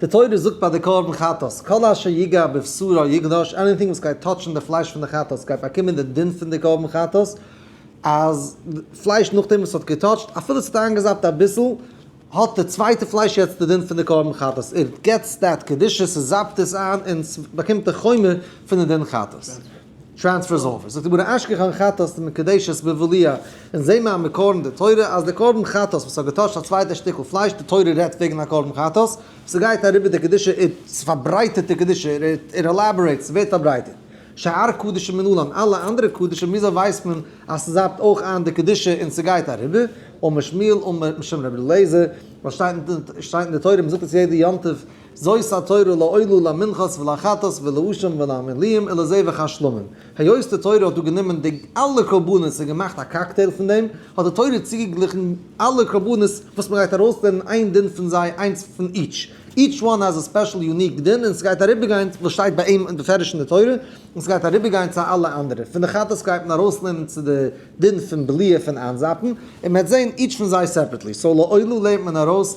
די תורה זאגט ביי די קרבן חטאת, כל אשר יגע בבשרו יגנוש, עניטינג וואס גייט טאטשן די פלייש פון די חטאת גייט באקומען די דין פון די קרבן חטאת, אז פלייש נאכדעם וואס האט געטאטשט אפילו ס'האט איינגעזאפט אביסל, האט די צווייטע פלייש יעצט די דין פון די קרבן חטאת, איט געטס דעט קדושה, ס'זאפט עס איין און ס'באקומט די חומר פון די דין חטאת. טרענספערס אפיס, זאגט די גמרא אשכחן חטאת ת מקדשת בבליה, אונז זעהן מיר א מקור אין די תורה אז די קרבן חטאת וואס האט געטוישט א צווייטע שטיקל פלייש, די תורה רעדט וועגן א קרבן חטאת, ס'גייט אריבער די קדושה ער ס'פארברייטערט די קדושה ער ער עלאבארעיט ס'ווערט פארברייטערט, שאר קדשים אין אולם אלע אנדערע קדשים וויאזוי ווייסט מען אז ס'זאפט אויך איין די קדושה און ס'גייט אריבער, אמר שמואל אמר משום רבי אליעזר, ווייל שטייט אין די תורה מ'זאגט עס יעדע יום טוב. זאת התורה לעולו למנחת ולחטאת ולעשם ולעמליים ולזה וכך שלמים. היות די תורה האט דא גענומען די אלע קרבנות און געמאכט א קאקטעיל פון דעם, האט די תורה צוגעגליכן אלע קרבנות וואס מען גייט ארויסלערנען איין דין פון זיי, איינס פון איטש. איטש וואן האז' א ספעשל יוניק דין און ס'גייט אריבערגיין וואס שטייט ביי אים בפירוש אין די תורה און ס'גייט אריבערגיין צו אלע אנדערע. פון די חטאת גייט מען ארויסלערנען צו די דין פון בליעה פון איינזאפן און מען וועט זען איטש פון זיי סעפערעטלי. סאו לעולו לערנט מען ארויס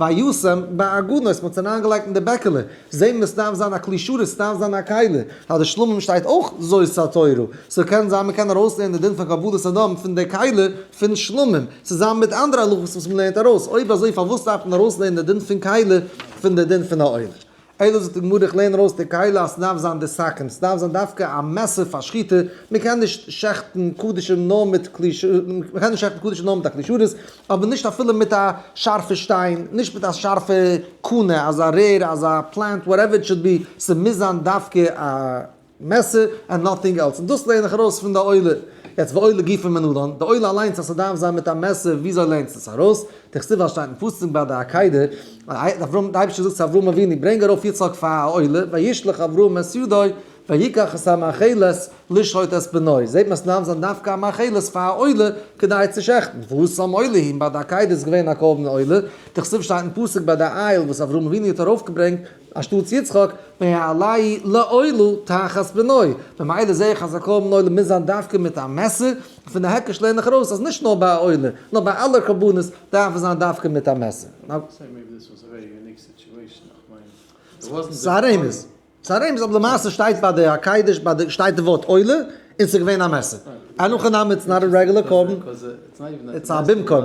וישם בעגונות, מ'האט עס אריינגעלייגט אין די בעקעלע, זעהן מיר עס דארף זיין א כלי שרת, עס דארף זיין א כלי, אז די שלמים שטייט אויך זו סתירה, סאו קען זיין מ'קען ארויסלערנען די דין פון כבוד האדם פון די כלי פון שלמים, צוזאמען מיט אנדערע הלכות וואס מ'לערנט ארויס, אויב אזוי פארוואס דארף מען ארויסלערנען די דין פון כלי פון די דין פון א עולה? איידער זאגט די גמרא איך לערן ארויס די קהלה אז סדארף זיין די סכין סדארף זיין דווקא א מעסער פאר שחיטה מקען נישט שעכטן קדישים נאר מיט כלי ש מקען נישט שעכטן קדישים נאר מיט א כלי שרת אבער נישט אפילו מיט א שארפע שטיין נישט מיט א שארפע קנה אזא רער אזא פלענט וואטעווער איט שאוד בי סמוז זיין דווקא א מעסער ענד נאטינג עלס, און דאס לערן איך ארויס פון די עולה, יעצט ועולה גופא מנדון, די עולה אליינס אז ס'דארף זיין מיט א מעסער, וויאזוי לערנסטו עס ארויס? דכתיב ווייל עס שטייט אין פסוק ביי די עקידה, אברהם, די אייבערשטער זאגט צו אברהם אבינו ברענג ארויף יצחק פאר א עולה, וישלח אברהם את ידו ויקח את המאכלת לשחוט את בנו, זעט מען עס דארף זיין דווקא א מאכלת פאר א עולה כדי צו שעכטן, והוא שם עולה הן ביי די עקידה איז געווען א קרבן עולה, דכתיב שטייט אין פסוק ביי די אייל וואס אברהם אבינו האט ארויפגעברענגט אנשטאטס יצחק בעלי לא עלו תחת בנוי, ממילא זעה איך אז א קרבן עולה מוז זיין דווקא מיט א מעסער, פון די הקש לערן איך ארויס אז נישט נאר ביי א עולה, נאר ביי אלע קרבנות דארף עס זיין דווקא מיט א מעסער. ס'איז א רמז, אבער למעשה שטייט ביי די הקדש שטייט די ווארט עולה און ס'איז געווען א מעסער. אין הכי נמי איטס נאט א רעגולער קרבן, איטס א במקום.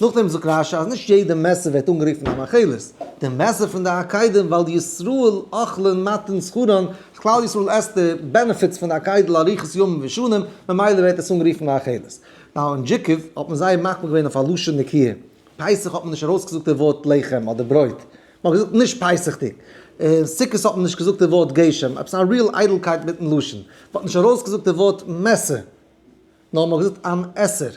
נאכדעם זאגט רשי אז נישט יעדע מעסער ווערט אנגערופן א מאכילת, די מעסער פון די עקדים ווייל ישראל אכלין מתן שכרן, כלל ישראל עסט די בענעפיטס פון די עקדים לאריכות ימים ושנים, ממילא ווערט עס אנגערופן מאכילת. ביי אנ ג האט מען זייער מקפיד געווען אויף א לשון נקיה, פסח האט מען נישט ארויסגעזאגט די ווארט לחם אדער ברויט, מען האט געזאגט נישט פסח'דיג, און סוכות האט מען נישט געזאגט די ווארט גשם, עפעס א ריעל איידלקייט מיטן לשון, מען האט נישט ארויסגעזאגט די ווארט מעסער, נאר מ'האט געזאגט אן עשר.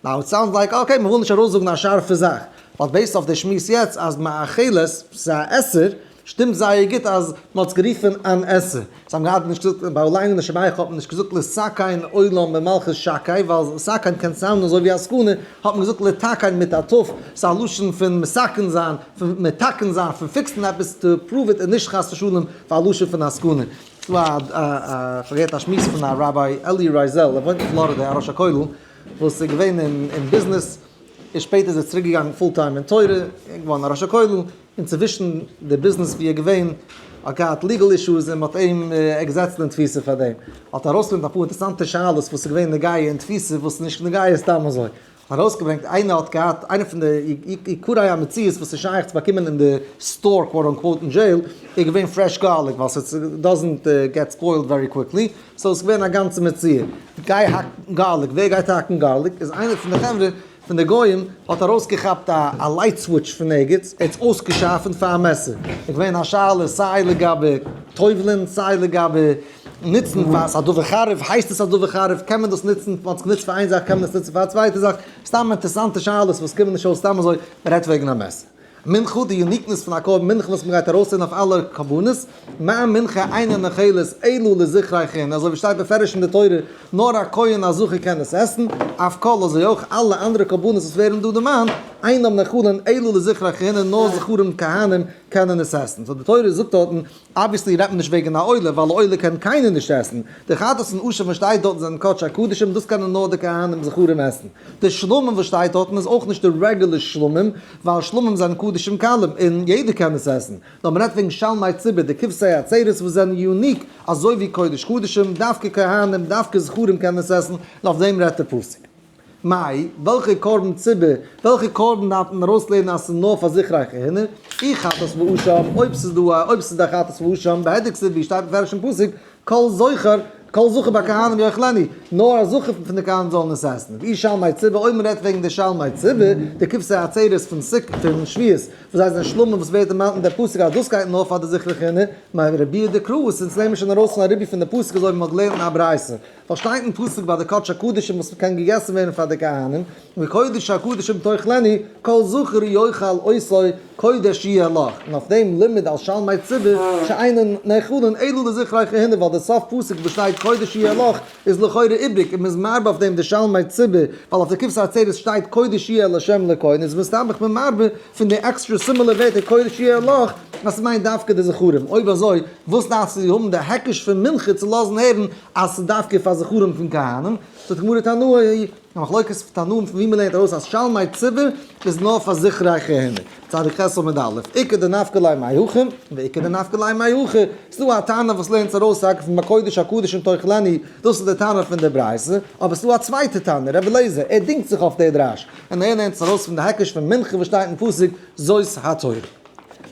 נאו איט סאונדס לייק אקעי מ'וויל נישט ארויסזאגן א שארפע זאך, באט בעיסד אויף די שמועס יעצט אז מאכילת ס'איז א עשר, שטימט זייער גוט אז מ'האט עס גערופן אן עשר. זיי האבן געהאט נישט געזאגט ביי ליינען די שבעכו האט מען נישט געזאגט לסכן עולם ממלכות שקי ווייל סכן קען סאונדן אזוי ווי א סכנה, האט מען געזאגט לתקן מיט א ת', ס'איז א לשון פון מסכן זיין, פון מתקן זיין, פון פיקסן עפעס טו פראוו איט און נישט חס ושלום פאר א לשון פון א סכנה. ס'דא א א כ'האב געהערט א שמועס פון א ראביי אלי רייזעל, ער וואוינט אין פלארידע, א ראש הכולל, וואס איז געווען אין ביזנעס, און שפעטער איז ער צוריק געגאנגען פול טיים אין תורה, און געווארן א ראש הכולל, און צווישן די ביזנעס ווי ער איז געווען, האט געהאט ליגעל אישוס און מ'האט אים געזעצט אין תפיסה פאר דעם, האט ארויסגעברענגט אפאר אינטערעסאנטע שאלות וואס איז געווען נוגע אין תפיסה וואס איז נישט נוגע סתם אזוי, ארויסגעברענגט איינער האט געהאט איינע פון די עיקרי המציאות וואס איז שייך צו באקומען אין די סטאר קוואט אן קוואט אין דזשעיל איז געווען פרעש גארליק ווייל ס'איז דאזענט געט ספוילד ווערי קוויקלי סאו ס'איז געווען א גאנצע מציאה גיי האק גארליק ווער גייט האקן גארליק איז איינער פון די חברה פון די גוים האט ארויסגעכאפט א לייט סוויטש פון ערגעץ ער האט עס אויסגעשארפענט פאר א מעסער איז געווען א שאלה סיי לגבי טובל'ען סיי לגבי נוצן פאר ס'א דבר חריף, הייסט עס א דבר חריף, קען מען דאס נוצן, מען האט עס גענוצט פאר איין זאך קען מען עס נוצן פאר א צווייטע זאך, סתם אינטערעסאנטע שאלות וואס קומען נישט אויס סתם אזוי, מען רעדט וועגן א מעשר מנחה, די יוניקנעס פון א קרבן מנחה וואס מען גייט ארויסהערן אויף אלע קרבנות, מען מנחה איינער נאכעלעס אלא לזכרי חנ, אזוי ווי שטייט בפירוש אין די תורה, נאר א כהן א זכר קען עס עסן, אויף כל אזוי אויך אלע אנדערע קרבנות וואס ווערן דא דערמאנט, אינם נאכלין אלא לזכרי חנ, נאר זכרים כהנים קענען עס עסן, סאו די תורה זאגט דארטן אבוויעסלי רעדט מען נישט וועגן א עולה, ווייל א עולה קען קיינער נישט עסן. די חטאת און עושר וואס שטייט דארטן זענען קדשי הקדשים, דאס קענען נאר די כהנים זכרים עסן. די שלמים וואס שטייט דארטן איז אויך נישט די רעגולער שלמים, ווייל שלמים זענען קדשים קלים, און יעדער קען עס עסן. נאר מען רעדט וועגן שלמי ציבור, די כבשי הצרות וואס זענען יוניק, אזוי ווי קודש קדשים, דווקא כהנים, דווקא זכרים קענען עס עסן, און אויף דעם רעדט די פסוק. מאי, וועלכע קרבן ציבור, וועלכע קרבן דארף מען ארויסלערנען אז ס'איז נאר פאר זיכרייכע הינער? אי חטאת ואשם, אויב ס'איז דא א, אויב ס'איז דא חטאת ואשם, בהדק סבי, שטייט מפורש אין פסוק, כל זכר, כל זכר ביי כהנים יאכלני, נאר א זכר פון די כהנים זאלן עס עסן. ואי שלמי ציבור, אויב מ'רעדט וועגן די שלמי ציבור, די כבשי עצרת פון סוכ, פון שביעות, וואס זיי זענען שלמים, וואס ווערט דערמאנט אין די פסוק אז דאס גייט נאר פאר די זיכרייכע הינער, מאי רביה דקרא, און ס'אונז לערנט מען שוין ארויס פון א רבי פון די פסוק אזוי ווי מ'האט געלערנט אין א ברייתא. פארשטייט אין פסוק ביי די קדש הקדשים וואס קען געגעסן ווערן פאר די כהנים, וקודש הקדשים תאכלני, כל זכר יאכל עשו, קודש יהיה לך, און אויף דעם לימוד על שלמי ציבור שאינן נאכלין אלא לזכרי כהנים ווייל די סוף פסוק וואס שטייט קודש יהיה לך איז לכאורה איבריג און מען איז מערבה אויף דעם די שלמי ציבור ווייל אויף די כבשת עצרת שטייט קודש יהיה לשם לכהן איז מסתמך מען מערבה פון די עקסטרע סימילער ווערטער קודש יהיה לך אז ס'מיינט דווקא די זכרים אויב אזוי וואס דארפסטו האבן די העקיש פון מנחה צו לאזן הערן אז ס'איז דווקא פאר זכרים פון כהנים, זאגט די גמרא תנאי, א מחלוקת תנאים פון ווי מ'לערנט ארויס אז שלמי ציבור איז נאר פאר זכרי כהנים, צדיק ח' עמוד א', עיקר דנפקא ליה מאי הכי, ועיקר דנפקא ליה מאי הכי, ס'דא א טענה וואס לערנט עס ארויס רק פון בקודש הקדשים תוך לני, דאס איז די טענה פון די ברייתא, אבער ס'דא א צווייטע טענה, רבי אליעזר, ער דינגט זיך אויף די דרש, און ער לערנט עס ארויס פון די הקש פון מנחה וואס שטייט אין פסוק זאת התורה.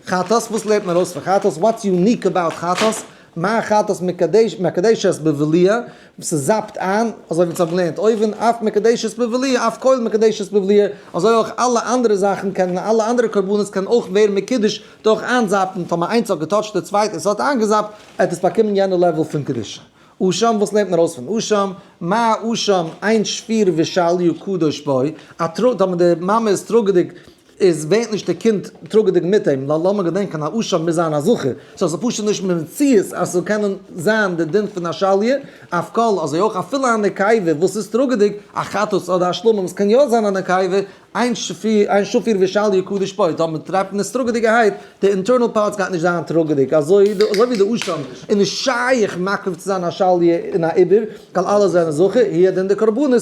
חטאת, וואס לערנט מען ארויס פון חטאת, וואטס יוניק אבאוט חטאת, מה אחת אז מקדש מקדש את בבליא וואס עס זאפט איין, אזוי ווי אונז האבן געלערנט אויבן, אף מקדש את בבליא אף קויל מקדש את בבליא, אזוי אויך אלע אנדערע זאכן קענען אלע אנדערע קרבנות קענען אויך ווערן מקודש דורך איינזאפן, טאמער איינס האט געטאטשט די צווייטע און ס'האט איינגעזאפט, עט עס באקומען יענע לעוועל פון קדושה. אשם, וואס לערנט מען ארויס פון אשם? מה אשם, איין שפיר ושאל יהיו קדוש בו, א טראג, טאמער די מאמע איז טראגעדיג, איז ווערט נישט די קינד טראגעדיג מיט אים, ווייל לאמיר געדענקען א אשה מוז זיין א זכר, סאו עס איז פשוט נישט מציאות אז ס'זאל קענען זיין די דין פון א שליה, אויף קול, אזוי אויך אפילו א נקייבה וואס איז טראגעדיג, א חתס אדער א שלמה וואס קען יא זיין א נקייבה, איין שפיר ווי שליה קדוש פוי, טא מען טרייבט מיט טראגעדיגערהייט, די אינטערנעל פארטס גייט נישט זיין טראגעדיג, אזוי ווי די אשה איז נישט שייך מקריב צו זיין א שליה און א עיבור, ווייל אלע זענען זכר, היא הדין די קרבנות,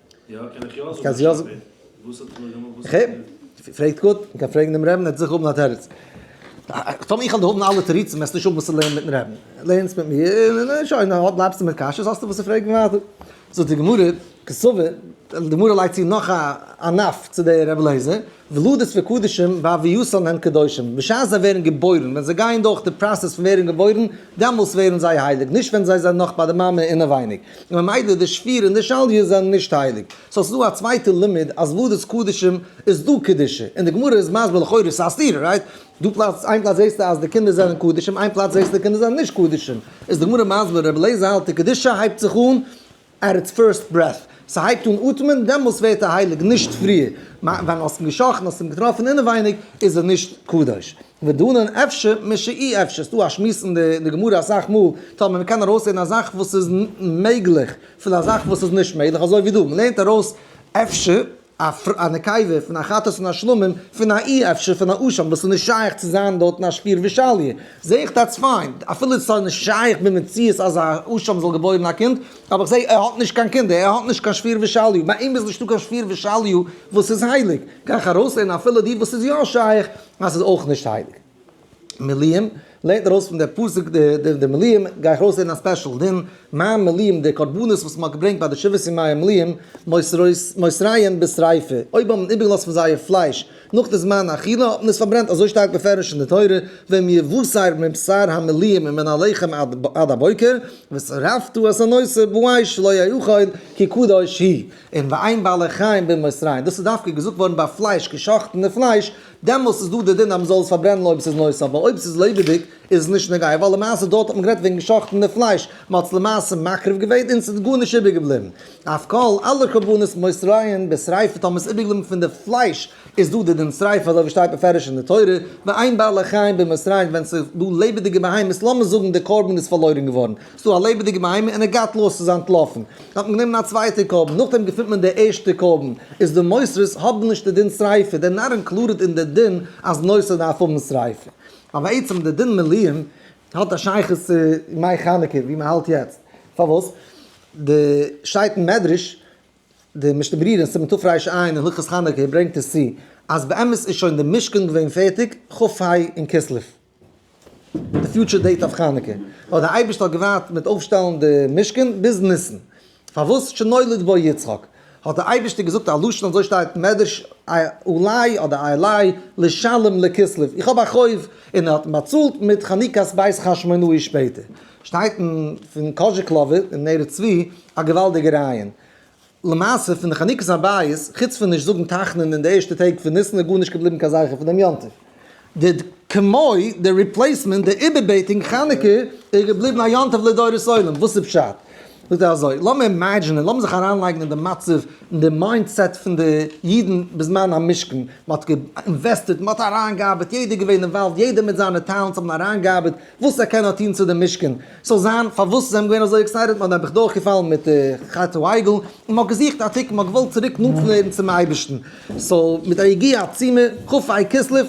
איך קען עס יא זאגן. פרעגט גוט, מען קען פרעגן דעם רעבן ער וועט זיכער האבן א תירוץ. טאמער איך וועל האבן אלע תירוצים וועסט נישט האבן וואס צו לערנען מיטן רעבן. לערנסט מיט מיר און שוין, אויב בלייבסטו מיט קשיות האסטו וואס צו פרעגן ווייטער. זאגט די גמרא, כסבר, די גמרא לייגט צו נאך א ענף צו דער רבי אליעזר. וולדות וקדשים ביי ויוסלן הם קדושים, בשעת זיי ווערן געבוירן, ווען זיי גייען דורך די פראסעס פון ווערן געבוירן, דאמאלס ווערן זיי הייליג, נישט ווען זיי זענען נאך ביי די מאמע אינעווייניג, און ממילא די שפיר און די שליה זענען נישט הייליג. סאו ס'איז דא א צווייטע לימוד אז וולדות קדשים איז דא קדושה, און די גמרא איז מסביר לכאורה ס'איז א סתירה, רייט? דא פלאץ, איין פלאץ זעסטו אז די קינדער זענען קדשים, איין פלאץ זעסטו די קינדער זענען נישט קדשים, איז די גמרא מסביר, רבי אליעזר האלט די קדושה הייבט זיך אן עט איטס פירסט ברעט, ס'הייבט אן אטעמען, דעמאלס ווערט ער הייליג, נישט פריער, מיין ווען האסט אים געשאכן, האסט אים געטראפן אינעווייניג, איז ער נישט קדוש. ודנן אפשר משא אי אפשר, ס'דא א שמועס אין די גמרא אסאך מאל, טאמער מ'קען ארויסהערן א זאך וואס איז מעגליך, פון א זאך וואס איז נישט מעגליך, אזוי ווי דא, מ'לערנט ארויס אפשר, א נקבה פון א חתס און א שלמים, פון א אי אפשר פון א אשם וואס איז נישט שייך צו זיין דארטן א שפיר ושליה, זעה איך דאטס פיין, אפילו איז סאיז נישט שייך במציאות אז א אשם זאל געבוירן א קינד, אבער איך זעה ער האט נישט קיין קינדער, ער האט נישט קיין שפיר ושליה, ביי אים איז נישטא קיין שפיר ושליה וואס איז הייליג, גיי איך ארויסלערנען אפילו די וואס איז יא שייך אז ס'איז אויך נישט הייליג. מלאים, לערנט ארויס פון די פסוק די מלאים, גיי איך ארויסלערנען א ספעשל דין, מים מלאים, די קרבנות וואס מען האט געברענגט ביי די שבעת ימי המלאים, מוסריים בשריפה, אויב האבן איבער געלאזט פון זייער פלייש נאך די זמן האכילה האט מען עס פארברענט, אזוי שטייט בפירוש אין די תורה, ואם יבשר מבשר המלאים ומן הלחם עד הבוקר, ושרפתו את הנושא בואי שלא יאכל כי קדוש היא, און ואין בעלי חיים במוסריים, דאס איז דווקא געזאגט געווארן ביי פלייש, געשאכטענע פלייש, דעמאלס איז דא די דין אז מען זאל עס פארברענען אויב עס איז נושא אבער אויב עס איז לעבעדיג איז עס נישט נוגע ווייל למעשה דארט האט מען גערעדט וועגן שחט'ן די פלייש מען האט עס למעשה מקריב געווען און עס איז גארנישט איבער געבליבן אויף כל אלע קרבנות מוסרין בשריפה טאמער עס איז איבער געבליבן פון די פלייש איז דא די דין שריפה אזוי ווי שטייט מפורש אין די תורה ואין בעלי חיים במוסרין ווען עס איז דא לעבעדיגע בהמות לאמיר זאגן די קרבן איז פארלוירן געווארן ס'איז דא א לעבעדיגע בהמה און ער גייט לאז ס'איז אנטלאפן. האט מען גענומען א צווייטע קרבן, נאכדעם געפינט מען די ערשטע קרבן, איז די מוסרית האבן נישט די דין שריפה, דער נאר אינקלודעד אין די דין אז נושא דארף האבן שריפה. ווייל בעצם די דין מלאים האט א שייכות צו מאי חנוכה ווי מען האלט יעצט. פארוואס? די שטייט אין מדרש, די משנה ברורה אין סימן תרפ ר ש עיין אין הלכות חנוכה ברענגט עס צו, אז באמת איז שוין די משכן געווען פערטיג כ ה אין כסלו. די פיוטשער דעיט אויף חנוכה. אבער דער אייבערשטער האט געווארט מיט אויפשטעלן די משכן ביז ניסן, פארוואס שנולד בו יצחק, האט דער אייבערשטער געזאגט א לשון אזוי שטייט אין מדרש אולי אדער אייליי לשלם לכסלו, איך האב א חוב, און ער האט אים באצאלט מיט חנוכת בית חשמונאי שפעטער. שטייט אין פון קאזשיקלאווער אין ערות צבי א געוואלדיגע רעיון. למעשה פון די חנוכת הבית, חוץ פון נישט זאגן תחנון אין די ערשטע טעג פון ניסן איז גארנישט געבליבן קיין זכר פון דעם יום טוב. די ד ק מוי ד די ריפלעיסמענט, די איבערבעטונג חנוכה איז געבליבן א יום טוב לדורות עולם, וואס איז פשט? זאגט ער אזוי, לאמיר אימעדזשינען, לאמיר זיך אריינלייגן אין די מצב, אין די מיינדסעט פון די אידן בזמן המשכן, מען האט אינוועסטעד, מען האט אריינגעארבעט, יעדער איז געווען אינוואלווד, יעדער מיט זיינע טעלענטס האבן אריינגעארבעט וואס ער קען האט טון צו די משכן, ס'זאל זיין פארוואס זיי האבן געווען אזוי עקסייטעד, מ'האט נעבעך דורכגעפאלן מיט חטא העגל, און מ'האט געזוכט א תיקון, מ'האט געוואלט צוריק נאנט ווערן צום אייבערשטן, סאו מיט א יגיעה עצומה, כ א כסלו,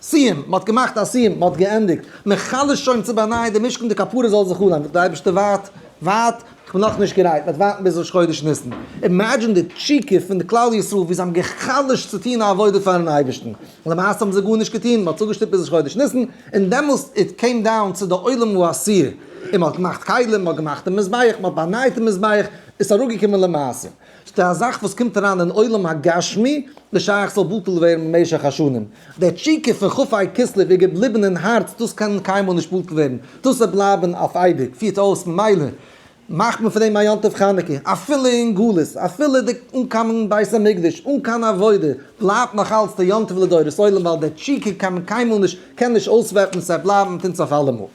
סיום, מ'האט געמאכט א סיום, מ'האט געענדיגט, מ'חלשט שוין צו באנייען דעם משכן, די כפרות זאל זיך אנהייבן, די אייבערשטער ווארט, ווארט, כ'בין נאכנישט גרייט, מ'וועט ווארטן ביז ראש חודש ניסן. אימעדזשין די תשוקה פון די כלל ישראל ווי זיי האבן גע'חלש'ט צו טון א עבודה פארן אייבערשטן, למעשה האבן זיי גארנישט געטון, מ'האט צוגעשטופט ביז ראש חודש ניסן, און דעמאלס איט קעים דאון צו די עולם הוא אסיר, און מ'האט געמאכט כלים, מ'האט געמאכט דעם מזבח, מ'האט באנייט דעם מזבח, איז אראפגעקומען למעשה. ס'דא א זאך וואס קומט אריין אין עולם הגשמי וואס שייך זאל בטל ווערן במשך השנים. די תשוקה פון כ א כסלו איז געבליבן אין הארץ, דאס קען קיינמאל נישט בטל ווערן, דאס וועט בלייבן אויף אייביג, פירט אויס, ממילא מאכט מען פון דעם א יום טוב חנוכה, אפילו אין גלות, אפילו די אן קיין בית המקדש, אן קיין עבודה, בלייבט נאך אלץ די יום טוב לדורות עולם, ווייל די תשוקה קען מען קיינמאל נישט, קען נישט אויסוועפן, ס'וועט בלייבן מיט אונז אויף אלעמאל.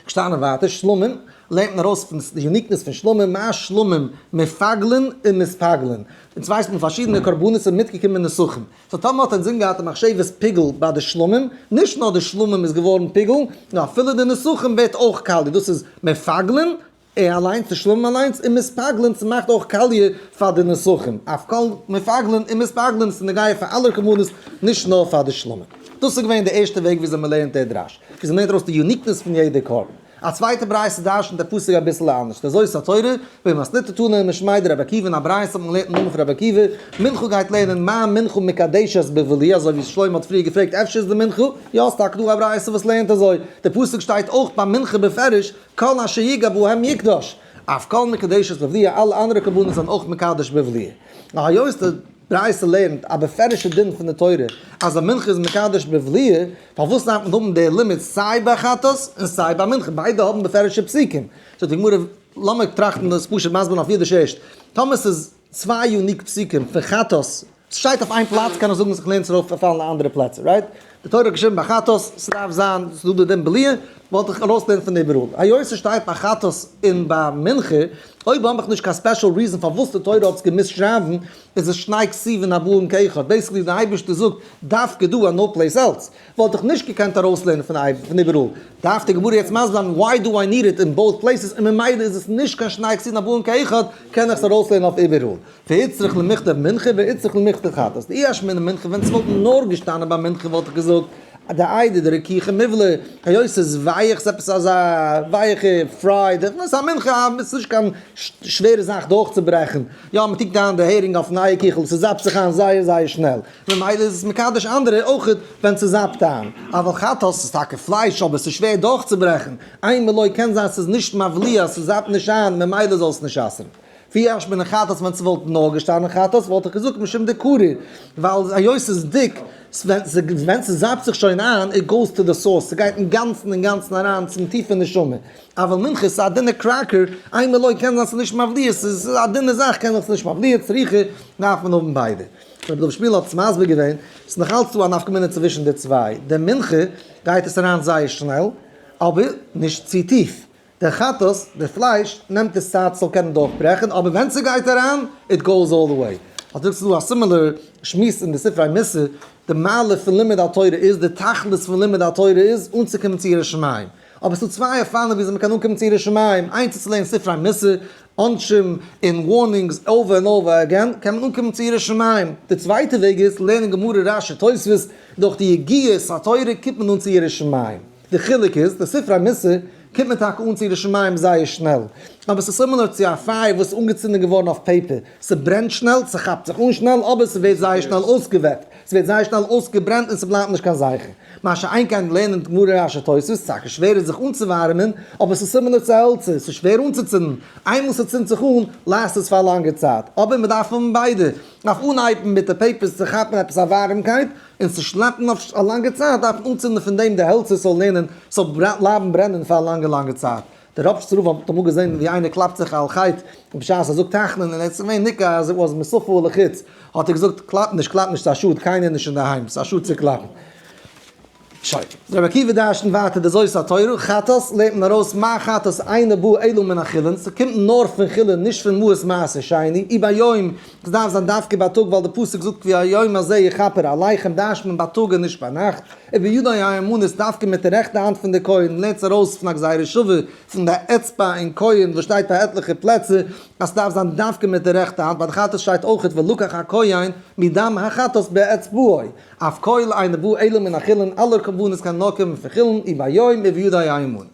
געשטאנען ווייטער, שלמים לערנט מען ארויס פון די יוניקנעס פון שלמים, מה שלמים מפגלין ומספגלין, אונז ווייסט פון פארשידענע קרבנות און מיטגעקומענע נסכים, סאו טאמער האט אינזין געהאט די מחשבת פיגול ביי די שלמים, נישט נאר די שלמים איז געווארן פיגול, נאר אפילו די נסכים ווערט אויך קאליע, דאס איז מפגלין, ער אליינס צו שלאגן אליינס און מיספאגלען צו מאכט אויך קאליע פאר די נסכים אויף קול מפגלין און מיספאגלען איז נוגע פאר אלע רחמנות נישט נאר פאר די שלמה. דאס איז געווען די ערשטע וועג וויאזוי מ'לערנט דער דרש, וויאזוי מ'לערנט ארויס די יוניקנעס פון יעדע קרבן. א צווייטע ברייתא דרשנ'ט די פסוק אביסל אנדערש, די זאת התורה, במסניתא תנא און משמעי דרבי עקיבא אין א ברייתא האט מען געלערנט דעם נאמען פון רבי עקיבא, מנחה גייט לערנען מה מנחה מקדשת בבלי אזוי ווי שלמה האט פריער געפרעגט אפשר איז די מנחה, יא ס'איז טאקע דא א ברייתא וואס לערנט אזוי, די פסוק שטייט אויך ביי מנחה בפירוש, כל אשר יגע בו ה' יקדוש, אויף כל מקודשת בבליה, אלע אנדערע קרבנות זענען אויך מקדש בבליה. און היות די ברייתא לערנט א בפירוש'ע דין פון די תורה אז א מנחה איז מקדש בבליה, פארוואס דארף מען האבן די לימוד סיי ביי חטאת און סיי ביי מנחה? ביידע האבן בפירוש'ע פסוקים. זאגט די גמרא, לאמיר טראכטן דאס פשוט מסביר אויף אידיש ערשט, טאמער ס'איז. צוויי יוניק פסוקים פון חת ס, ס'שטייט אויף איין פלאץ קען איך זאגן זיך לערנט עס ארויף אויף אלע אנדערע פלעצער רייט? די תורה האט געשריבן ביי חת ס ס'דארף זיין ס'דא די דין בליעה וואלט איך ארויס לערנט פון איבעראל היות ס'שטייט ביי חת ס און ביי מנחה אויב האב איך נישט קיין ספעשל ריזען פארוואס די תורה האט עס געמוזט שרייבן איז עס שני כסיבין הבאים כאחד בעיסיקלי די אייבערשטער זאגט דווקא דא און נאו פלעיס עלס. וואלט איך נישט געקענט ארויסלערנען פון איבעראל, דארף די גמרא יעצט מסביר זיין why do I need it in both places, און ממילא איז עס נישט קיין שני כסין הבאים כאחד, קען איך עס ארויסלערנען אויף איבעראל, והצריך למכתב מנחה והצריך למכתב חטאת, אי אשמע אין מנחה, ווען עס וואלט נאר געשטאנען ביי מנחה וואלט איך געזאגט די איידער די רכיכע מובלע, היות עס איז ווייעך עס איז עפעס אזא ווייעכע פריי, דערפאר איז א מנחה א עס איז נישט קיין שווערע זאך דורכצוברעכן, יא מען טונקט אריין די הערינג אויף נייע קיכל עס זאפט זיך איין זייער זייער שנעל. ממילא איז עס מקדש אנדערע אויך ווען ס'איז זיין פטר'ן. אבל חטאת איז טאקע פלייש אבער ס'איז שווער דורכצוברעכן, איין מילוי קען זיין ס'איז נישט מבליע אז ס'זייט נישט שיין ממילא זאלסט נישט אסר'ן. ווי אש מן החטאת ווען ס'וואלט נאר געשטאנען חטאת וואלט איך געזאגט משום דקרי ווייל היות ס'איז דיק ווען ס'זייפט זיך שוין איין איט גאוס טו די סאורס ס'גייט אינגאנצן אינגאנצן אריין צום טיפע נשמה. אבל מנחה איז א דינע קראקער, איין מילוי קען זיין ס'איז נישט מבליע ס'איז א דינע זאך קען זיין ס'איז נישט מבליע, צריכה דארף מען האבן ביידע. ווען דער רב שפירא האט עס מסביר געווען, ס'איז נאך אלץ דא א נפקא מינה צווישן די צוויי, די מנחה גייט עס אריין זייער שנעל, אבער נישט צו טיף, די חטאת, די פלייש, נעמט עס צייט ס'זאל קענען דורכברעכן, אבער ווען ס'גייט אריין, איט גאוס אלל די וועי. אט דא איז דא א סימילער שמועס אין די ספרי מוסר, די מעלה פון לימוד התורה איז, די תכלית פון לימוד התורה איז, אנצוקומען צו ירא שמים. אבער ס'איז דא צוויי אופנים וויאזוי מ'קען אנקומען צו ירא שמים, איינס איז צו לערנען ספרי מוסר, עונשים און ווארנינגס אווער און אווער אגעין, קען מען אנקומען צו יראת שמים. די צווייטע וועג איז, לערנען גמרא רש י תוספות, דורך די יגיעות התורה קומט מען אן צו יראת שמים. די חילוק איז, די ספר המוסר קומט מען טאקע אן צו יראת שמים זייער שנעל, אבער ס'איז סימילער צו א פייער וואס איז אנגעצינדן געווארן אויף פעיפער, ס'ברענט שנעל, ס'כאפט זיך אן שנעל, אבער ס'ווערט זייער שנעל אויסגעוועפט. ס'ווערט זייער שנעל אויסגעברענט און ס'בלייבט נישט קיין זכר. מה שאין כן לערנען גמרא רש י תוספות איז טאקע שווערער זיך אנצואווארעמען, אבער ס'איז סימילער צו העלצער, ס'איז שווער אנצוצינדן, איינמאל ס'צינדט זיך אן, לאסט עס פאר א לאנגער צייט, אבער מ'דארף האבן ביידע, אויף אנהייבן מיט די פעיפערס צו כאפן עפעס א ווארעמקייט, און צו שלעפן אויף א לאנגע צייט דארף מען אנצינדן פון דעם די העלצער ס'זאל לערנען, ס'זאל בלייבן ברענען פאר א לאנגע לאנגע צייט. די רבש'ס רב האט אמאל געזען ווי איינער קלאפט זיך על חטא בשעת ער זאגט תחנון און ער איז געווען ניכר אז איט וואס מסופו לחוץ, האט ער געזאגט קלאפ נישט קלאפ נישט ס'איז א שאד קיינער איז נישט אינדערהיים ס'איז א שאד צו קלאפן. שוין. רבי עקיבא דרש'נט ווייטער די זאת התורה, חטאת לערנט מען ארויס מה החטאת אינו בא אלא מן החולין, ס'קומט נאר פון חולין נישט פון מהות מעשה שני, אי ביום סדארף זיין דווקא בייטאג ווייל די פסוק זאגט כי היום הזה יכפר עליכם דרשט מען בייטאג און נישט ביינאכט, און ביודעי האמונה איז דווקא מיט די רעכטע האנט פון די כהן לערנט זי ארויס פון א גזירה שוה פון די אצבע אין כהן וואס שטייט פאר עטליכע פלעצער אז סדארף זיין דווקא מיט די רעכטע האנט ביי די חטאת שטייט אויכעט ולקח הכהן מדם החטאת באצבעו אויף כל עיניו וואו עלים מן החילון אלע קרבנות קענען נאר קומען פון חילון און ביום און ביודעי האמונה.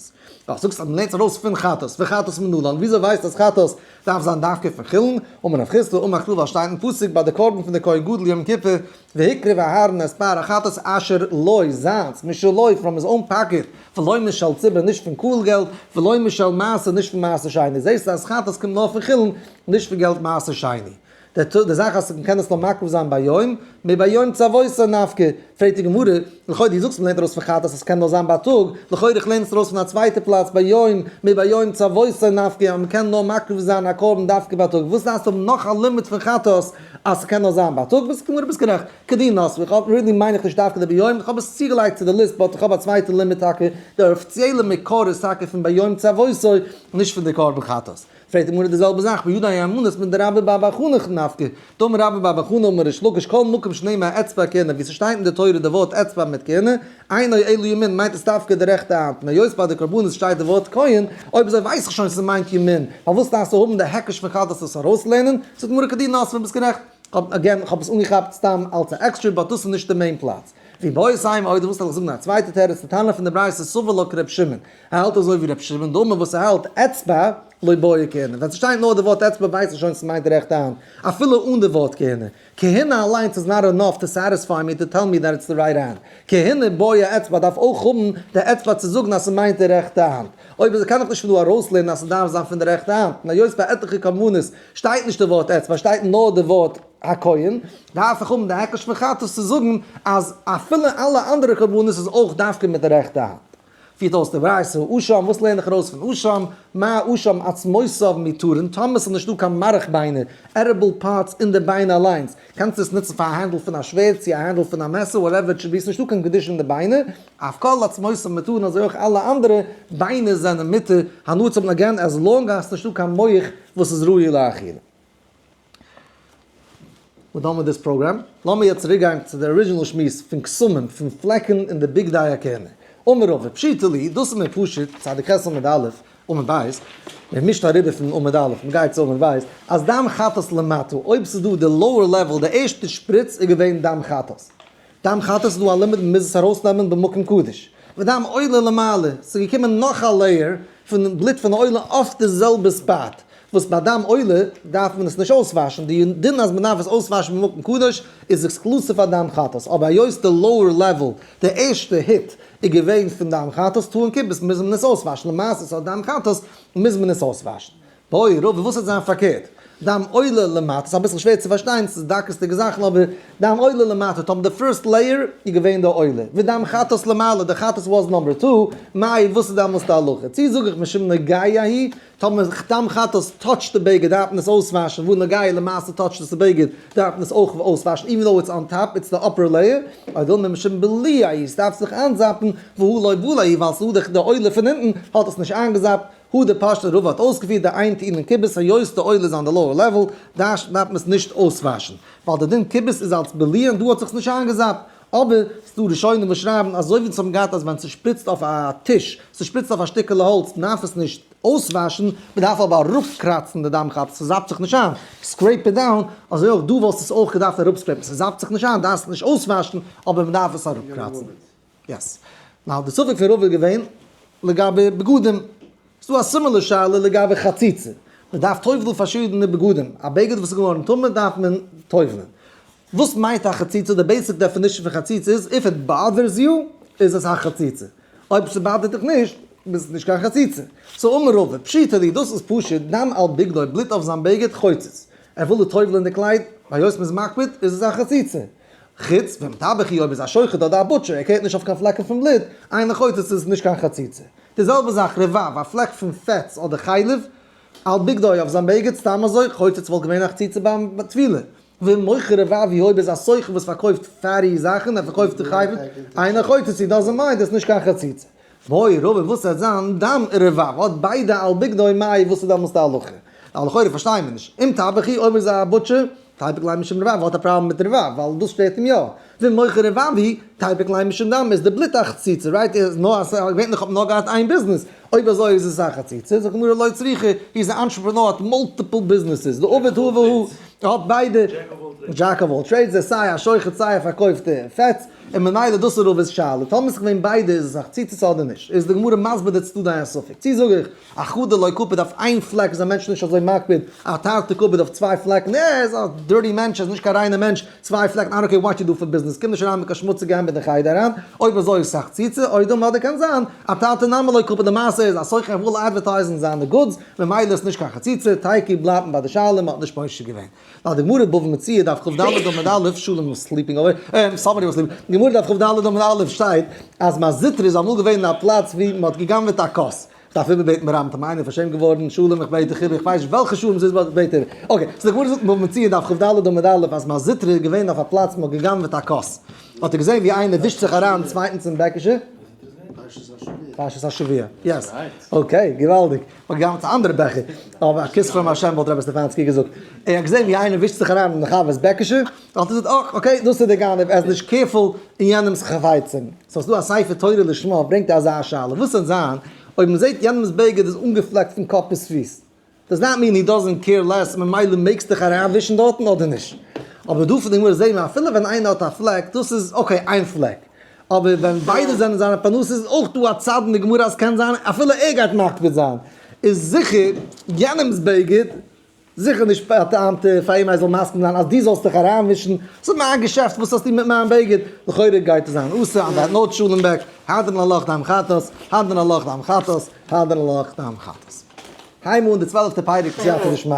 ווייל זאגסט אז מען לערנט זי ארויס פון חטאת וחטאת מנולן וויאזוי ווייסטו אז חטאת דארף זיין דווקא פון חולין, אמר רב חיסדא, אמר כלל ווייל שטייט אין פסוק ביי די קרבן פון די כהן גדול יום כיפור, והקריב אהרן את פר החטאת אשר לו, זיינס, משלו, פראם היז אוין פאקעט, ולא משל ציבור נישט פון קהל געלט, ולא משל מעשר נישט פון מעשר שני, זעהסטו אז חטאת קומט נאר פון חולין, נישט פון געלט מעשר שני. די זאך אז מען קען עס נאר מקריב זיין ביום מביום צוואותו נפקא, פרעגט די גמרא, לכאו' די זאגסט מען לערנט ארויס פון חטא אז עס קען נאר זיין בייטאג, לכאו' איך לערן עס ארויס פון א צווייטע פלאץ ביום מביום צוואותו נפקא אז מען קען נאר מקריב זיין א קרבן דווקא בייטאג, וואס דארפסטו האבן נאך א לימוד פון חטא אז עס קען נאר זיין בייטאג, ביסט גמור ביסט גערעכט, כדין נאספו, איך האב רילי מיין איך נישט דווקא די ביום, איך האב עס צוגעלייגט צו די ליסט באט איך האב א צווייטע לימוד טאקע, די אפיציעלע מקור איז טאקע פון ביום צוואותו נישט פון די קרבן חטאת. פרעגט די גמרא די זעלבע זאך ביודעי היימנוט מיט די רבי ביי בר חנה איך נפק ד אמר רבי ביי בר חנה אמר ריש לקיש כל מקום שנאמר האצבע הכהנה ווי ס'שטייט אין די תורה די ווארט אצבע מיט כהנה עיני אלו ימין מיינט עס דווקא די רעכטע האנט און היות ביי די קרבנות שטייט די ווארט כהן אויב אזוי ווייס איך שוין ס'מיינט ימין פארוואס דארפסטו האבן די היקש פון חז ל צו עס ארויסלערנען זאגט די גמרא כדין נאספער ביסט גערעכט כ'האב אגעין כ'האב עס אנגעכאפט סתם אלץ א עקסטרע באט דאס איז נישט די מעין פלאץ ווי בויערס היימ אויב דו ווילסט זאל איך זאגן א צווייטע תירוץ די טענה פון די ברייתא סובר לא כרבי שמעון ער האלט אזוי ווי רבי שמעון דומם וואס האלט אצבע לא באה כהנה, ווען ס'שטייט נאר די ווארט אצבע ווייסט מען שוין ס'מיינט רעכט האנט, אפילו אן די ווארט כהנה. כהנה אליינס איז נאט ענאף טו סעטיספיי מי, טו טעל מי דעט איטס די רייט הענד. כהנה באה אצבע דארף אויך האבן די אצבע צו זאגן אז ס'מיינט די רעכטע האנט. אויב איז קען איך נישט פון דא ארויסלערנען אז ס'דארף זיין פון די רעכטע האנט, און היות ביי עטליכע קרבנות שטייט נישט די ווארט אצבע שטייט נאר די ווארט הכהן, דארף איך האבן די היקש פון חטף צו זאגן אז אפילו אלע אנדערע קרבנות איז אויך דווקא מיט די רעכטע האנט. פירט אויס די ווייסע האר שם, וואס לערן איך ארויס פון האר שם? מה האר שם עצמותיו מתורין, טאמער עס איז נישטא קיין מארך ביינער, עדיבל פארטס, אין די ביינער אליינס, קענסטו עס נוצן פאר א הענדל פון א שווערד, צו א הענדל פון א מעסער, וואטעווער איט שויד בי, עס איז נישטא קיין קדושה אין די ביינער, אויף כל עצמותיו מתורין, אזוי אויך אלע אנדערע ביינער זענען מותר הנאה צו האבן אגען עז לאנג אז עס איז נישטא קיין מח וואס איז ראוי לאכילה. וויל דאן מיט דיס פראגרעם. לאמיר יעצט צוריק גיין צו די ארידזשינעל שמועס פון קסמים פון פלעקן און די בגדי הכהונה. אמר רבא, פשיטא לי, דאס איז מער פשוט, צדיק ח' עמוד א', עמוד ב', מען מישט אריבער פון עמוד א', מען גייט צו עמוד ב', אז דם חטאת למטה, אויב ס'איז דא די לאוער לעוועל, די ערשטע שפריץ איז געווען דם חטאת. דאם חטאת איז דא א לימיט מ'מוז עס ארויסנעמען במקום קדוש. ודם עולה למעלה, ס'איז געקומען נאך א לעיער פון בלוט פון עולה אויף די זעלבע ספאט, וואס ביי דם עולה דארף מען עס נישט אויסוואשן, די דין אז מ'דארף עס אויסוואשן במקום קדוש איז עקסקלוסיוו פאר דם חטאת, אבער היות די לאוער לעוועל, די ערשטע היט, איז געווען פון דם חטאת טאר און כיבוס מוז מען עס אויסוואשן, למעשה ס'האט דם חטאת מוז מען עס אויסוואשן. הוי ראה וואס וועט זיין פארקערט, דם עולה למטה, ס'איז אביסל שווער צו פארשטיין, ס'איז דקות'דיגע זאכן, אבער דם עולה למטה, טאמער די פירסט לעיער איז געווען די עולה, ודם חטאת למעלה, די חטאת וואס נאמבער טו, מאי, וואס איז דעמאלס די הלכה? צי זאג איך משום נוגעיה היא, טאמער דם חטאת טאטשט די בגד דארף מען עס אויסוואשן, וואו נוגעיה למעשה טאטשט עס די בגד, דארף מען עס אויך אויסוואשן, איווען דאו איטס אן טאפ, איטס די אפער לעיער, אדער וויל מען משום בליה היא, ס'דארף זיך איינזאפן, והא ליה וליה היא, ווייל ס'איז דא די עולה פון אונטן, האט עס נישט איינגעזאפט, הא דער פשט און רבא האט אויסגעפירט די איין טעם אין כיבוס היות די עול איז אן די לאוער לעוועל דארף מען עס נישט אויסוואשן ווייל די דין כיבוס איז אלס בליען דא האט זיך עס נישט איינגעזאפט אבער ס'דא ראשונים וואס שרייבן אזוי ווי צום גייט אז ווען ס'שפריצט אויף א טיש ס'שפריצט אויף א שטיקעלע האלץ מ'דארף עס נישט אויסוואשן מ'דארף אבער אראפקראצן די דם כאפ ס'זאפט זיך נישט איין סקרעיפ איט דאון אזוי אויך דא וואלסט עס אויך געדארפט אראפסקרעיפן ס'זאפט זיך נישט איין דארפסט נישט אויסוואשן אבער מ'דארף עס אראפקראצן. יעס. נאר די ספק פון רוב איז געווען לגבי בגדים. ס'איז דא א סימילער שאלה לגבי חציצה. מ'דארף טובל'ן פארשידענע בגדים. א בגד וואס איז געווארן טמא דארף מען טובל'ן. וואס מיינט א חציצה? די בעיסיק דעפינישן פון חציצה איז, איף איט באדערס יו, איז עס א חציצה. אויב ס'באדערט דיך נישט, ביסט נישט קיין חציצה. סאו אמר רבא, פשיטא לי, דאס איז פשוט, דם על בגדו, בלוט אויף זיין בגד, חוצץ. ער וויל דיר טובל'ן די קלייד, והיות מ'איז מקפיד, איז עס א חציצה. חוץ ווען טבח היא אויב איז א שוחט אדער א בוטשער ער קערט נישט אויף קיין פלעקן פון בלוט, איין אחוז עס איז נישט קיין חציצה. די זעלבע זאך ר ו, א פלעק פון פעטס אדער חלב על בגדו אויף זיין בגד סתם אזוי חוץ עס וואלט געווען א חציצה ביים טבילה. ומוכר ר ו היא אויב איז א סוחר וואס פארקויפט פעטי זאכן ער פארקויפט חלב, איין אחוז עס איז דאזענט מיינד עס נישט קיין חציצה. מורי רבי וואס האט זיין דם רבב האט ביידע על בגדי מאי וואס איז דעמאלס די הלכה? ווייל לכאורה פארשטייען מיר נישט אם טבחי אויב ער איז א בוטשער תיבק ליה משום רבב האט א פראבלעם מיט רבב ווייל דאס שטערט אים יא ואם מוכר רבב היא תיבק ליה משום דם איז די בלוט א חציצה רייט איז נאר אז געווענליך האט מען נאר געהאט איין ביזנעס אויב אזוי איז עס א חציצה זאגט די גמרא לא צריכה הי איז א אנטשרעפרענאר האט מאלטיפעל ביזנעסעס די עובד הוה והוא האט ביידע דזשעק אוו אלל טרעידס איז סיי א שוחט סיי א פארקויפט פעטס. און ממילא דאס איז רב'ס שאלה, טאמער איז געווען ביידע איז עס א חציצות אדער נישט, איז די גמרא מסביר די צדדי דיין ספק, צי זאג איך א חד דלא קפיד אויף איין פלעק איז א מענטש נישט אזוי מקפיד, א תרתי קפיד אויף צוויי פלעקן ער איז א דירטי מענטש ער איז נישט קיין ריינע מענטש, צוויי פלעקן איי דאנט קעיר וואט יו דא פאר ביזנעס קום נישט אריין מיט קיין שמוציגע הענט אין חדר אריין, אויב אזוי איז עס א חציצה, אוי דא מאדער קען זיין א תרתי נמי לא קפיד למעשה איז א סוחר ער וויל אדווערטייזן זיינע גודס ממילא איז עס נישט קיין חציצה, טייקי בלייבט מען ביי די שאלה מען האט נישט פושט געווען. ווייל די גמרא אין בבא מציעא דף כב ד עמוד א', שלום וואס סליפינג אווער, אהמ, סאמערי וואס סליפינג, די גמרא דף כב ד עמוד א' שטייט אז מעזיטרא איז אמאל געווען א פלאץ ווי מען האט גע'גנב'עט א כוס, איך דארף איבער בעטן ברבים טעמים, איינער איז פארשעמט געווארן, שלום איך בעט דיך איבער, איך ווייס נישט וועלכע שלום ס'איז באט בעט איבער, אקעי, סאו די גמרא זאגט אין בבא מציעא דף כב ד עמוד א' אז מעזיטרא איז געווען אויף א פלאץ ווי מען האט גע'גנב'עט א כוס, האט ער געזען ווי איינער ווישט זיך אריין צווייטנס אין בעקישע, פרשת השבוע, יעס, אקעי, געוואלדיג. האט געהאט א אנדערע בעכער, אבער א כוס פארן באשעפער האט רבי סטעפאנסקי געזאגט. ער האט געזען ווי איינער ווישט זיך אריין אין די חבר'ס בעקעשע, האט ער געזאגט אה, אקעי, דאס איז דער גנב, ער איז נישט קעירפול אין יענעמ'ס חפצים. ס'איז דא א ספר תורה לשמה ברענגט ער אזא שאלה, וואס וועט זיין אויב מען זעט יענעמ'ס בגד איז אנגעפלעקט פון קאפ ביז פיס? דאס דאזנט מין הי דאזנט קעיר לעס, ממילא מעגסט דיך אריינווישן דארטן אדער נישט. אבער דא פון די גמרא זעהן מיר אפילו ווען איינער האט א פלעק, דאס איז אקעי איין פלעק, אבער ווען ביידע זענען זיינע פרנסות איז אויך דא א צד אין די גמרא אז קען זיין אפילו ער גייט מקפיד זיין איז זיכער יענעמס בגד זיכער נישט א טעם ת פאר אים ער זאל מסכים זיין אז דו זאלסט דיך אריינמישן ס'איז מיין געשעפט וואס האסטו מיט מיין בגד? לכאורה גייט עס זיין אסור אז ער האט נאר טשולענט בעק הדין הלוך דאם חטאת הדין הלוך דאם חטאת הדין הלוך דאם חטאת הייב אן די צוועלפטע פרק סייעתא דשמיא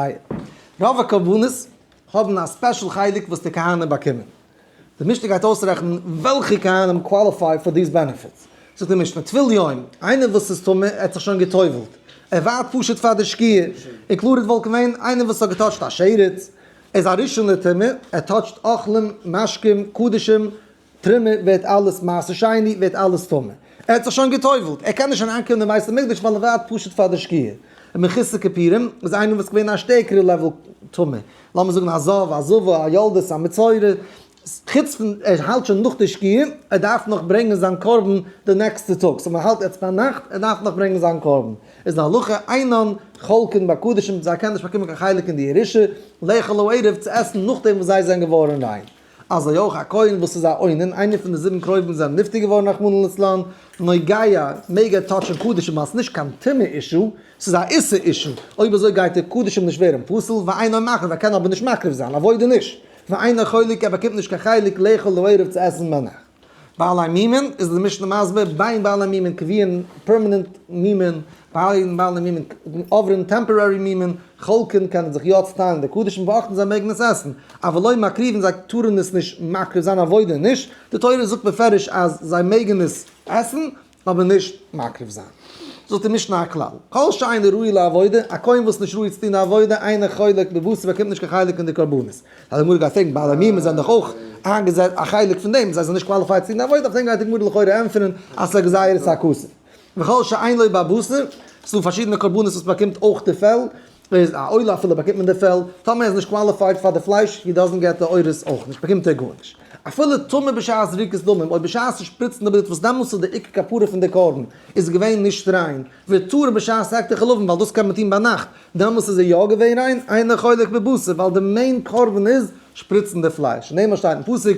רוב הקרבנות האבן א ספעשל חלק וואס די כהנים באקומען די משנה גייט אויסרעכענען וועלכע כהנים קוואליפיי פאר דיס בענעפיט. זאגט די משנה, טביל יום, איינער וואס איז טמא, ער האט זיך שוין גע'טובל'ט, ער ווארט פשוט פאר די שקיעה, און קלאר איז וואלט געווען איינער וואס האט געטאטשט א שרץ, ער איז א ראשון לטומאה, ער טאטשט אוכלים, משקים, קדשים, טרימה, ווערט אלעס מעשה שני, ווערט אלעס טמא. ער האט זיך שוין גע'טובל'ט, ער קען נישט אריינקומען אין בית המקדש ווייל ער ווארט פשוט פאר די שקיעה. און מכסה כפירים איז איינער וואס איז געווען א שטערקערע לעוועל טמא, לאמיר זאגן א זב, א זבה, א יולדת, א מצורע, חוץ פון ער היילט שוין נאך די שקיעה, ער דארף נאך ברענגען זיין קרבן די נעקסטע טאג, סאו מען היילט יעצט ביינאכט, ער דארף נאך ברענגען זיין קרבן, איז די הלכה אינן חולקין בקדשים, זיי קענען נישט באקומען קיין חלק אין די ירושה, לאכול לערב, צו עסן נאכדעם וואס זיי זענען געווארן ריין. אזוי אויך א כהן וואס איז א עונן, איינער פון די זיבן קרובים זענען נפטר געווארן רחמנא לצלן, נוגעיה, מעג ער טאטשען קדשים אז נישט קיין טומאה אישו, ס'איז א איסור אישו, אויב אזוי גייט דער קדש אים נישט ווערן פסול, ואינו מחריב ער קען אבער נישט מקריב זיין, אבודי נישט, ואינו חולק ער באקומט נישט קיין חלק לאכול לערב צו עסן מענער. בעלי מימון איז די משנה מסביר ביי בעלי מימון קביעין פערמענענט מימון ביי בעלי מימון עוברים טעמפארערי מימון חולקים קענען זיך יא צוטיילן די קדשים און באאכטן זיי מעגן עס עסן אבל לא מקריבין זיי טארן עס נישט מקריב זיין אוודאי נישט די תורה זאגט מפרש אז זיי מעגן עס עסן אבער נישט מקריב זיין זאלט איר נישט נאר כלל כל שאינו ראוי לעבודה א כהן וואס איז נישט ראוי צו טון א עבודה אינו חולק בבשר באקומט נישט קיין חלק אין די קרבנות פאר די גמרא גייט פרעגן בעלי עמימות זענען דאך אויך איינגעזעצט א חלק פון דעם זיי זענען נישט קוואליפייד צו טון עבודה אויף דעם גייט די גמרא לכאורה ענטפערן אז ס'איז א גזירת הכסף וכל שאין לוי' בבשר ס'דא פארשידענע קרבנות וואס באקומט אויך די פעל איז א עולה אפילו באקומט מען די פעל, טאמער ער איז נישט קוואליפייד פאר די פלייש הי דאזענט געט די אורות אויך נישט, באקומט ער גארנישט. אפילו טמא בשעת זריקת דמים, אויב בשעת צו שפריצן די בלוט וואס דעמאלטס איז די עיקר כפרה פון די קרבן איז געווען נישט ריין, ווערט טהור בשעת העקת החלבן ווייל דאס קען מען טון ביינאכט, דעמאלטס איז ער יא געווען ריין, אינו חולק בבשר ווייל די מעין קרבן איז שפריצן די פלייש, און דעם וואס שטייט אין פסוק.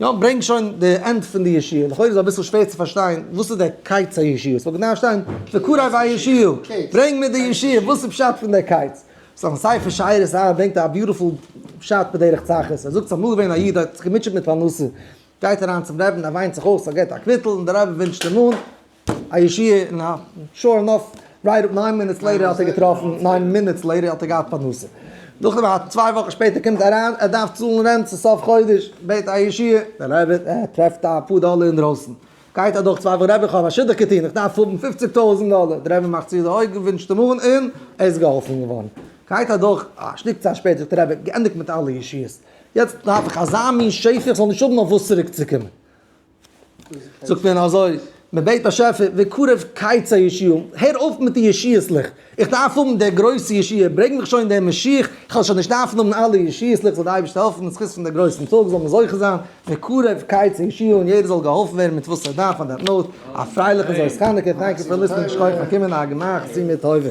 יא, ברענג שוין די ענד פון די ישיר, לכאורה איז אביסל שווער צו פארשטיין וואס איז דער קייץ הישיר, ס'וואלט געדארפט שטיין וקרב הישיר, ברענג מיר די ישיר, וואס איז פשט פון דער קייץ? סאו אין ספר שיירת הר ן ברענגט ער א ביוטיפול פשט בדרך צחות, ער זאגט ס'איז אמאל געווען א איד האט זיך געמוטשעט מיט פרנסה, גייט אריין צום רבי'ן ער וויינט זיך אויס ער געט א קוויטל און דער רבי ווינטשט אים אן, א ישועה אין הארצן. שור אנאף, רייט אפ ניין מינוטס לעיטער האט ער געטראפן, ניין מינוטס לעיטער האט ער געהאט פרנסה. נאכדעם א צוויי וואכן שפעטער קומט אריין, ער דארף צאלן רענט צו סוף חודש, בעט א ישועה, דער רבי טרעפט א פאר דאלער אינדרויסן. גייט אדורך צוויי וואכן, רבי איך האב א שידוך געטון, איך דארף האבן פופציג טויזנט דאלער, דער רבי מאכט צו די אויגן, ווינטשט אים אן און ער איז געהאלפן געווארן. גייט אדורך א שטיק צייט שפעטער זאגט דער רבי, געענדיגט מיט אלע ישועות, יעצט דארף איך אזא מין שפע איך זאל נישט האבן אויף וואס צוריק צו קומען. זאגט מען אזוי, מען בעט באשעפער וקרב קיצי ישעיהו, הער אויף מיט די ישועות ליכט, איך דארף האבן די גרויסע ישועה, ברענג מיך שוין דעם משיח, איך וועל שוין נישט דארפן האבן אלע ישועות ליכט, זאל די אייבערשטער העלפן אין זכות פון די גרויסן טאג זאל מען זוכה זיין וקרב קיצי ישעיהו און יעדער זאל געהאלפן ווערן מיט וואס ער דארף פאר די נויט, א פרייליכע זאליס חנוכה, טענק יו פאר ליסטענינג, שכויח פאר קומען, א גמח סיום מיט טובה.